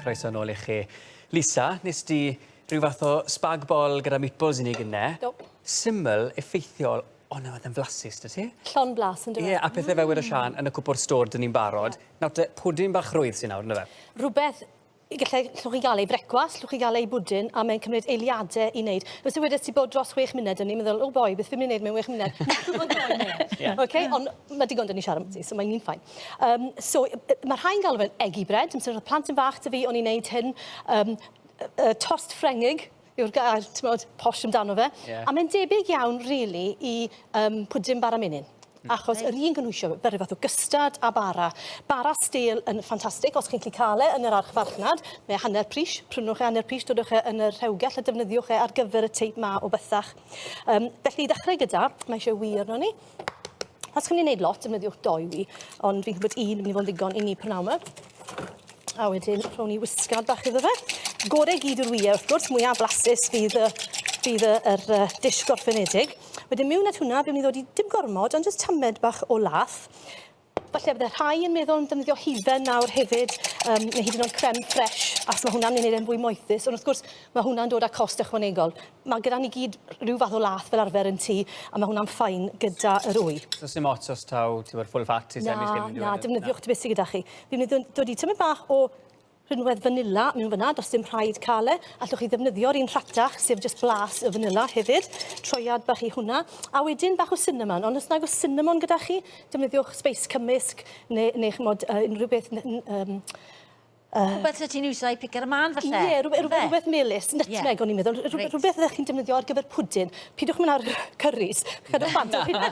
Croeso nôl i chi. Lisa, nes di rhyw fath o spag bol gyda meatballs i ni gynne. Do. Syml, effeithiol, ond nawr yn flasus, dy ti? Llon blas, yn dweud. Ie, a pethau fel wedi Sian, yn y cwpwr stor, dyn ni'n barod. Nawr te, pwdin bach rwydd sy'n nawr, ynddo fe? Rhywbeth Y gallai llwch i gael ei frecwast, llwch i gael ei bwdin, a mae'n cymryd eiliadau i wneud. Os yw wedi ti bod dros wech munud, o'n i'n meddwl, oh boy, beth fi'n mynd i wneud mewn wech munud? yeah. okay? Ond mae digon dyn ni siarad ti, so mae'n un ffain. Um, so, mae rhai'n galw fe'n eggy bread, yn sy'n rhaid plant yn fach dy fi, o'n i'n neud hyn, um, uh, tost ffrengig, yw'r gair, t'mod, posh amdano fe. Ie. A mae'n debyg iawn rili i yym pwdin bara menyn. Hmm. Achos yr un gynhwysio fe ryw fath o gystad a bara. Bara stêl yn ffantastig os chi'n 'llu ca'l e yn yr archfarchnad, mae e hanner pris, prynwch e hanner pris, dodwch e yn y rhewgell a defnyddiwch e ar gyfer y teip 'ma o bythach. Yym felly i ddechrau gyda, mae isie wy arnon ni. Os chi'n mynd i wneud lot, defnyddiwch dou wy, ond fi'n gwybod un yn mynd i fod yn ddigon i ni prynawn 'ma. A wedyn rhwng ni wisgad bach iddo fe. Gore gyd yw'r wyau, wrth gwrs, mwyaf blasus fydd y, fydd y, yr uh, dish gorffenedig. Wedyn miwn at hwnna, fi'n mynd i ddod i dim gormod, ond jyst tamed bach o lath. Falle bydde rhai yn meddwl am ddefnyddio hufen nawr hefyd, um, neu hyd yn oed creme fresh, as mae hwnna'n mynd e'n fwy moethus. Ond wrth gwrs, mae hwnna'n dod â cost ychwanegol. Mae gyda ni gyd rhyw fath o lath fel arfer yn tŷ, a mae hwnna'n ffain gyda yr wy. So sy'n ots os taw, ti'n bod, full fat i semi-skim? Na, na, defnyddiwch ti beth sydd gyda chi. Fi'n mynd i ddod i tymyn bach o Rhinwedd fanila mewn fyna, does dim rhaid cael e. Allwch chi ddefnyddio'r un rhatach, sef jyst blas y fanila hefyd. Troiad bach i hwnna. A wedyn bach o cinnamon, ond os nag oes cinnamon gyda chi, defnyddiwch sbeis cymysg neu, neu chymod, uh, unrhyw beth... Um, Uh, rhywbeth lle ti'n iwsio i picar y man falle? Ie, yeah, rhywbeth, rhywbeth, rhywbeth melus, nutmeg yeah. o'n i'n meddwl, rhywbeth, rhywbeth ydych chi'n defnyddio ar gyfer pwdin. Pidwch mynd ar curries. Chydwch bant o hynna.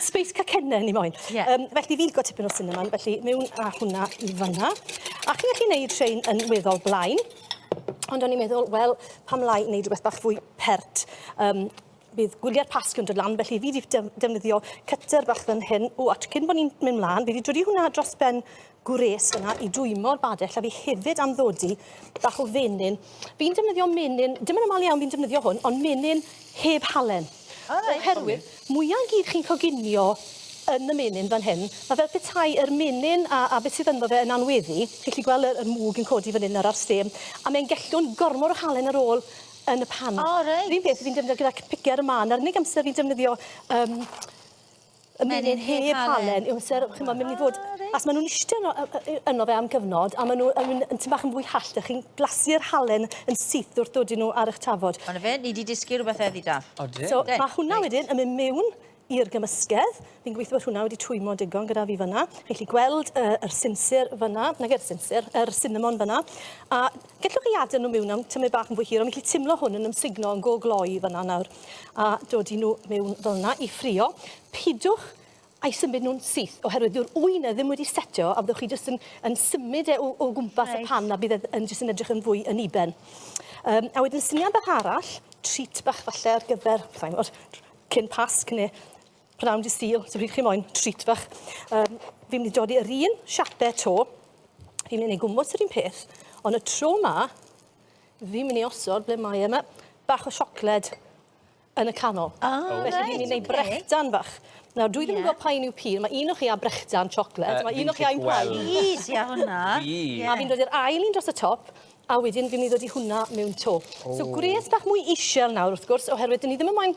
Space cacenne ni moyn. Yeah. Um, felly fi'n gwybod tipyn o cinnamon, felly mewn a hwnna i fanna. A chi'n gallu gwneud rhain yn weddol blaen. Ond o'n i'n meddwl, wel, pam lai wneud rhywbeth bach fwy pert. Um, bydd gwyliau'r pasg yn dod lan, felly fi wedi defnyddio cyter bach fan hyn. O, a cyn bod ni'n mynd mlaen, fi wedi dwri hwnna dros ben gwres yna i dwymo'r badell a fi hefyd am ddodi bach o fenyn. Fi'n defnyddio menyn, dim yn aml iawn fi'n defnyddio hwn, ond menyn heb halen. O reit. Oherwydd, mwya i gyd chi'n coginio yn y menyn fan hyn, mae fel petai yr menyn a, a beth sydd ynddo fe yn anweddu, chi'n gallu gweld yr, yr mwg yn codi fan hyn nawr ar stêm, a mae'n gellwng gormod o halen ar ôl yn y pan. O reit. Yr un peth fi'n defnyddio gyda picer y man, a'r unig amser fi'n defnyddio um, y menyn heb halen yw amser ch'mod myn' i fod... O reit. ...achos ma' nw'n iste yno yy yy yy yno fe am gyfnod a ma' n'w yn myn' yn tym' bach yn fwy hallt a chi'n blasu'r halen yn syth wrth dodi n'w ar 'ych tafod. O 'na fe ni 'di dysgu rwbeth heddi da. Odyn. So ma' hwnna wedyn yn myn' miwn i'r gymysgedd. Fi'n gwitho bod hwnna wedi twymlo digon gyda fi fyn 'na. Chi 'llu gweld yy yr sinsir fyn 'na. Nage'r sinsir yr sinamon fyn 'na a Gellwch chi adael nhw miwn am tymed bach yn fwy hir, ond fi'n gallu timlo hwn yn ymsugno yn go gloi fyna nawr. A dod i nhw miwn fel yna i ffrio. Pidwch a'i symud nhw'n syth, oherwydd dyw'r ŵyn e ddim wedi setio, a fyddwch chi jyst yn yn symud e o o gwmpas y pan, a bydd e yn jyst yn edrych yn fwy unuben. Um, a wedyn syniad bach arall, treat bach falle ar gyfer, saimo, cyn Pasg neu Round your steel, so pryd chi moyn treat fach. Um, fi'n mynd i dodi yr un siapau to. Fi'n mynd i gwmwys yr un peth. Ond y tro ma, fi'n mynd i osod ble mae yma bach o siocled yn y canol. Ah, oh, Felly right, fi'n mynd i okay. brechdan fach. Nawr, dwi ddim yn gwybod pa un yw pil. Mae un o'ch chi a brechdan siocled. Uh, mae un o'ch chi a'n paen. Please, ia hwnna. A fi'n dod i'r ail un dros y top a wedyn fi'n mynd i ddod i hwnna mewn to. Oh. So gwres bach mwy eisiau nawr wrth gwrs, oherwydd dyn ni ddim yn moyn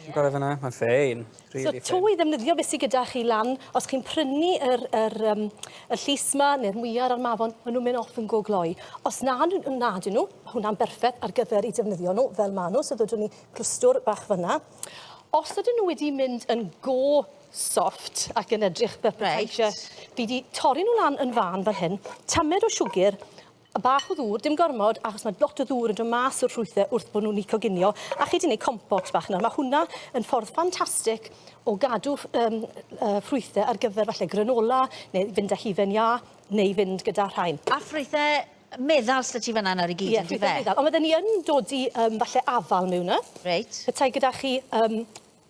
Ti'n gorau fyna? Mae'n ffein. Really so, to i ddefnyddio beth sydd gyda chi lan, os chi'n prynu yr, yr, um, y llus yma, neu'r mwyar a'r mafon, maen nhw'n mynd off yn go gloi. Os na, na dyn nhw, hwnna'n berffaith ar gyfer i defnyddio nhw fel maen nhw, so ddodwn ni plwstwr bach fyna. Os ydyn nhw wedi mynd yn go soft ac yn edrych fel petai right. fi wedi torri nhw lan yn fan fan hyn, tamed o siwgr, A bach o ddŵr, dim gormod, achos mae lot o ddŵr yn dod mas o'r ffrwythau wrth bod nhw'n coginio, a chi 'di wneud compost bach nawr. Mae hwnna yn ffordd ffantastig o gadw um, uh, ffrwythau ar gyfer falle granola, neu fynd â hufen iâ, neu fynd gyda rhain. A ffrwythau meddal sydd ti fanna nawr i gyd, yeah, ynddi fe? Ie, meddal. Ond fydden ni yn dod i um, falle afal mewn yna. Reit. Petai gyda chi um,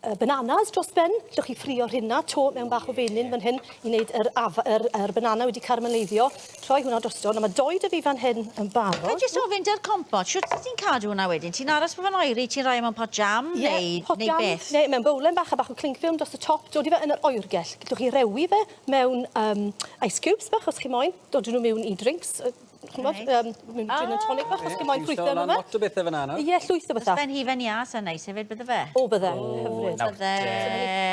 y bananas dros ben. Llwch chi ffrio rhina to mewn bach o fenyn fan hyn i wneud yr, af, yr, yr banana wedi carmeleiddio. Troi hwnna drosto. Nawr mae doi dyfu fan hyn yn barod. Fe jyst ofyn dy'r compot, sut ti'n cadw hwnna wedyn? Ti'n aros bod fe'n oeri, ti'n rhoi e mewn pot jam yeah, neu, pot neu jam, beth? Neu mewn bowlen bach a bach o cling film dros y top, dodi fe yn yr oergell. Llwch chi rewi fe mewn um, ice cubes bach os chi moyn. Dodi nhw mewn i drinks, Ch'mod yym mynd gin and tonic bach os chi moyn ffrwythe efo fe. Lot o bethe fyn 'na nawr. Ie llwyth o betha. Byse fe'n hufen iâ sa'n neis hefyd bydde fe? O bydde. Hyfryd. Nawr te.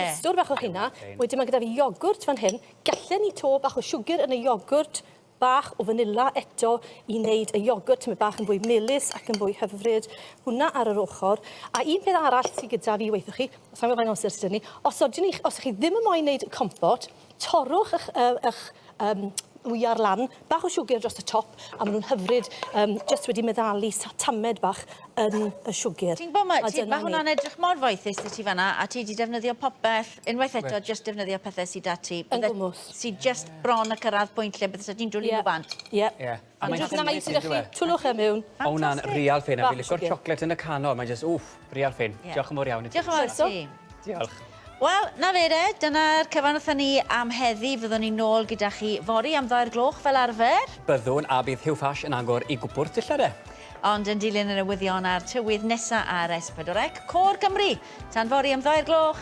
Clwstwr bach o rheina. Wedyn ma' gyda fi iogwrt fan hyn. Gallen ni to bach o siwgr yn y iogwrt, bach o fanila eto i neud y iogwrt tymed bach yn fwy melys ac yn fwy hyfryd. Hwnna ar yr ochor. A un peth arall sy gyda fi weithoch chi, sai'n gwbo faint o amser sy 'da ni, os ydyn ni os 'ych chi ddim yn moyn neud compot, Torrwch ych, uh, ych um, wyar lan, bach o siwgr dros y top, a maen nhw'n hyfryd, um, just wedi meddalu tamed bach yn y siwgr. Ti'n gwybod, mae, ti, mae hwnna'n edrych mor foethus i ti fanna, a ti wedi defnyddio popeth, unwaith eto, right. just defnyddio pethau sydd da ti. Yn gwmwth. Sydd just bron y cyrraedd pwynt lle bydde ti'n dwlu yeah. nhw bant. Ie. Yeah. Yeah. A mae'n jyst neis i chi twllwch e miwn. O wna'n real ffyn a fi licio'r chocolate yn y canol, mae'n jyst wff, real ffyn. Diolch yn fawr iawn i ti. Diolch yn fawr eto. Diolch. Wel, na fe de, dyna'r cyfan wrthyn ni am heddi. Fyddwn ni nôl gyda chi fory am ddoi'r gloch fel arfer. Byddwn, a bydd Huw Fash yn agor i gwpwrdd dillad de. Ond yn dilyn y newyddion a'r tywydd nesa ar S4C, Côr Cymru! Tan fory am ddoi'r gloch!